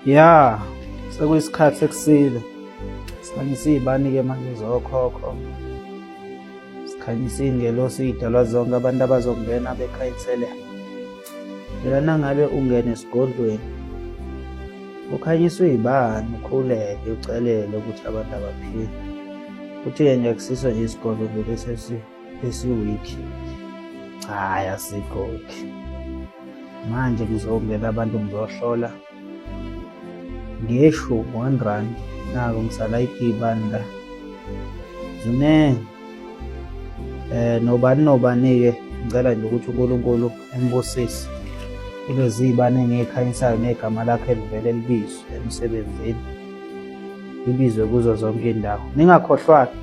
Ya, sekuyisikhathi sekusile. Sikhanyisa iy'bani-ke manje zokhokho. Sikhanyisa iy'ngelosi iy'dalwa zonke abantu abazongena bekhanyisele. Phela nangabe ungena esigodlweni ukhanyiswa iy'bani ukhuleke ucelele ukuthi abantu abaphile. Kuthi-ke nje akusiso nje isigodlo nje lesi esi esiwiki cha hayi asikho manje ngizongena abantu ngizohlola ngesho one rand nako ngisala iphibani la ziningi um nobani nobani-ke ngicela nje ukuthi unkulunkulu embusise kulezi iy'bane engiyikhanyisayo negama lakhe livele libizwe emsebenzini ngibizwe kuzo zonke indawo ningakhohlwaki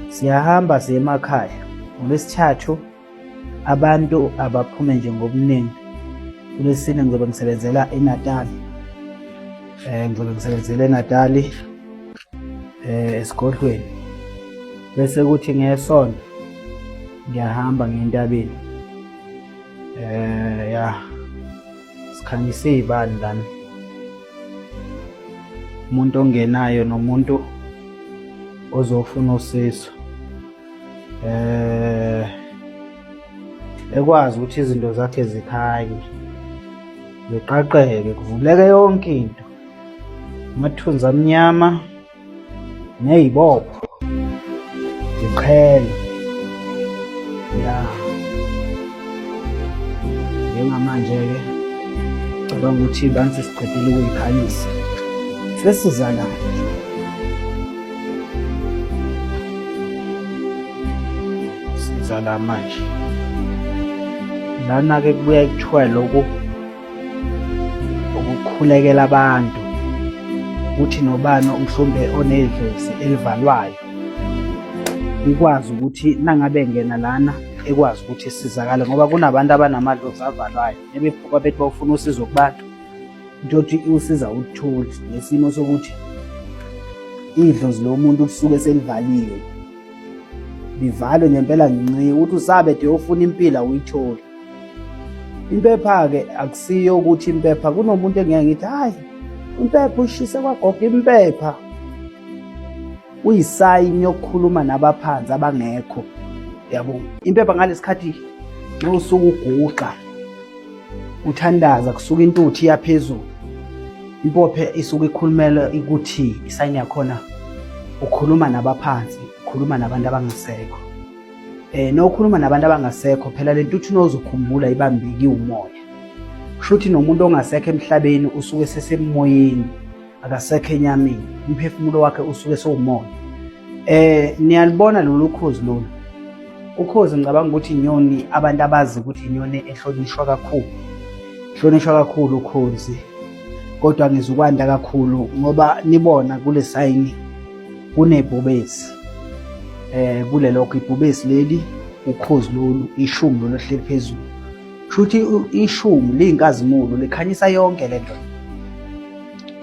siyahamba siye emakhaya ngolwesithathu abantu abaphume nje ngobuningi kulesine ngizobe ngisebenzela enatali um ngizobe ngisebenzela enatali um esigodlweni bese kuthi ngesonto ngiyahamba ngentabeni um ya sikhanyisa iy'bani lana umuntu ongenayo nomuntu ozofuna usizo eh ekwazi ukuthi izinto zakhe zikhanye ziqaqeke kuvuleke yonke into amathunzi amnyama neyibopho ziqhele ya njengamanje-ke cabanga ukuthi bantu sesiqedile ukuyikhanyisa sesizanayo sizala manje lana-ke kubuya kuthiwa lokhu ukukhulekela abantu ukuthi nobani mhlawumbe onedlozi elivalwayo ikwazi ukuthi nangabe ngena lana ekwazi ukuthi isizakale ngoba kunabantu abanamadlozi avalwayo ebephuka bethi bawufuna usizo kubantu into yokuthi iwusiza ukuthuli nesimo sokuthi idlozi lomuntu kusuke selivaliwe livalwe ngempela ngenxa ukuthi usabe de ufuna impilo awuyitholi Impepha-ke akusiyo ukuthi impepha kunomuntu engeke ngithi hhayi impepha ushise kwagoga impepha uyisayini yokukhuluma nabaphansi abangekho yabo impepha ngalesi khathi nxa usuke uguqa uthandaza kusuke intuthu iyaphezulu impophe isuke ikhulumela ukuthi isayini yakhona ukhuluma nabaphansi ukhuluma nabantu abangasekho eh nokhuluma nabantu abangasekho phela lento uthi nozokhumbula ibambeki umoya shuthi nomuntu ongasekho emhlabeni usuke sesemoyeni akasekho enyameni umphefumulo wakhe usuke sewumoya eh niyalibona lolu khozi lolu ukhozi ngicabanga ukuthi inyoni abantu abazi ukuthi inyoni ehlonishwa kakhulu ehlonishwa kakhulu ukhozi kodwa ngizukwanda kakhulu ngoba nibona kule sayini kunebhubesi eh kulelokho ibhubesi leli ukhozi lolu ishumi lolu hleli phezulu shuthi ishumi liyinkazimulo likhanyisa yonke le nto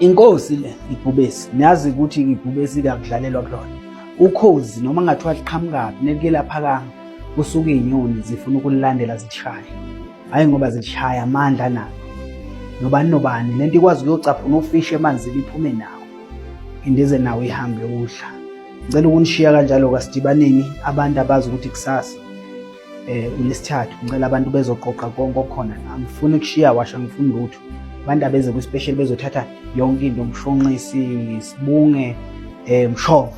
inkosi le ibhubesi niyazi ukuthi ibhubesi kakudlalelwa kulona ukhozi noma ngathiwa liqhamukaphi nelike laphakanga kusuke inyoni zifuna ukulilandela zilishaya hhayi ngoba zilishaya amandla nalo nobani nobani le nto ikwazi ukuyocaphuna ufishi emanzini iphume nawo Indize nawe ihambe udla. Ngicela ukunishiya kanjalo kasidibaneni abantu abazi ukuthi kusasa eh unesithathu ngicela abantu bezoqoqa konke okhona angifuni ukushiya washa ngifuni lutho abantu abeze kwi-special bezothatha yonke into umshonqisi sibunge eh mshova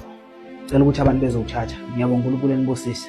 cela ukuthi abantu bezowuthatha ngiyabonga uNkulunkulu enibusise